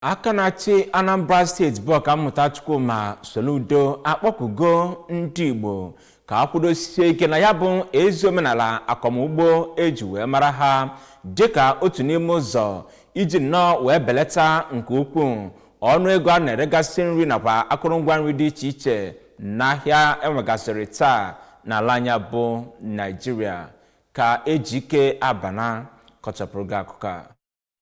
aka na-achị anambra state bụ ọkammụta chukwuma soludo akpọkugo ndị igbo ka a kwudosie ike na ya bụ ezi omenala akọmugbo eji wee mara ha dịka otu n'ime ụzọ iji nnọọ wee belata nke ukwuu ọnụ ego a na-eregasị nri nakwa akụrụngwa nri dị iche iche n'ahịa enwegasịrị taa n'ala anyị a bụ naijiria ka ejike abana kọchapụrụ gị akụkọ a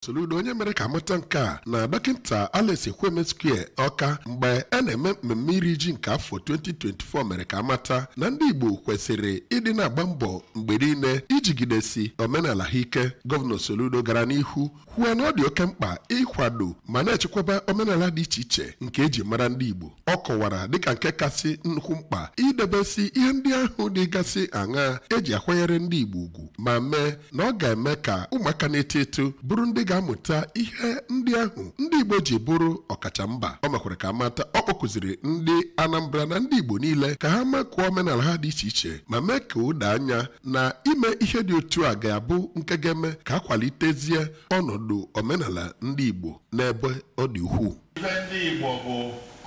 Soludo onye mere ka amata nke a na dọkịta Alex Ekwueme Square Ọka mgbe a na-eme mmemme iri ji nke afọ 2024 mere ka amata na ndị Igbo kwesịrị ịdị na-agba mbọ mgbe niile ijigidesi omenala ha ike gọvanọ Soludo gara n'ihu kwuo na ọ dị oke mkpa ịkwado ma na-echekwaba omenala dị iche iche nke eji mara ndị Igbo ọ kọwara dịka nke kasị nnukwu mkpa idebesi ihe ndị ahụ dịgasị aṅa eji akwanyere ndị Igbo ugwu ma mee na ọ ga-eme ka ụmụaka na-eto eto bụrụ ndị ga-amụta ihe ndị ahụ ndị Igbo ji bụrụ ọkacha mba o mekwara ka a mata ọ kpọkuziri ndị Anambra na ndị Igbo niile ka ha makụọ omenala ha dị iche iche ma mee ka o doo anya na ime ihe dị otu a ga-abụ nke ga-eme ka akwalitezie ọnọdụ omenala ndị Igbo n'ebe ọ dị ukwuu Ife ndị Igbo bụ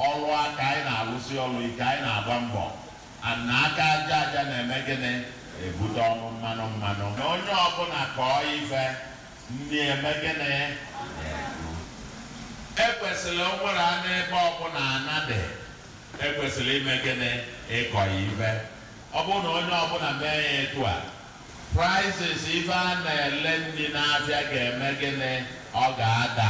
ọrụ aka anyị na-alụsi ọrụ ike anyị na-agba mbọ and na aka aja aja na-eme gịnị ebute ọnụ mmanụ mmanụ na onye ọbụla kọọ ife nri eme gịnị ekwesịrị o nwere ana ebe ọbụla ana dị ekwesịrị ime gịnị ịkọ ya ife ọ bụrụ na onye ọbụla mee ya etu a Prices ife a na-ele nri n'afịa ga-eme gịnị? Ọ ga-ada.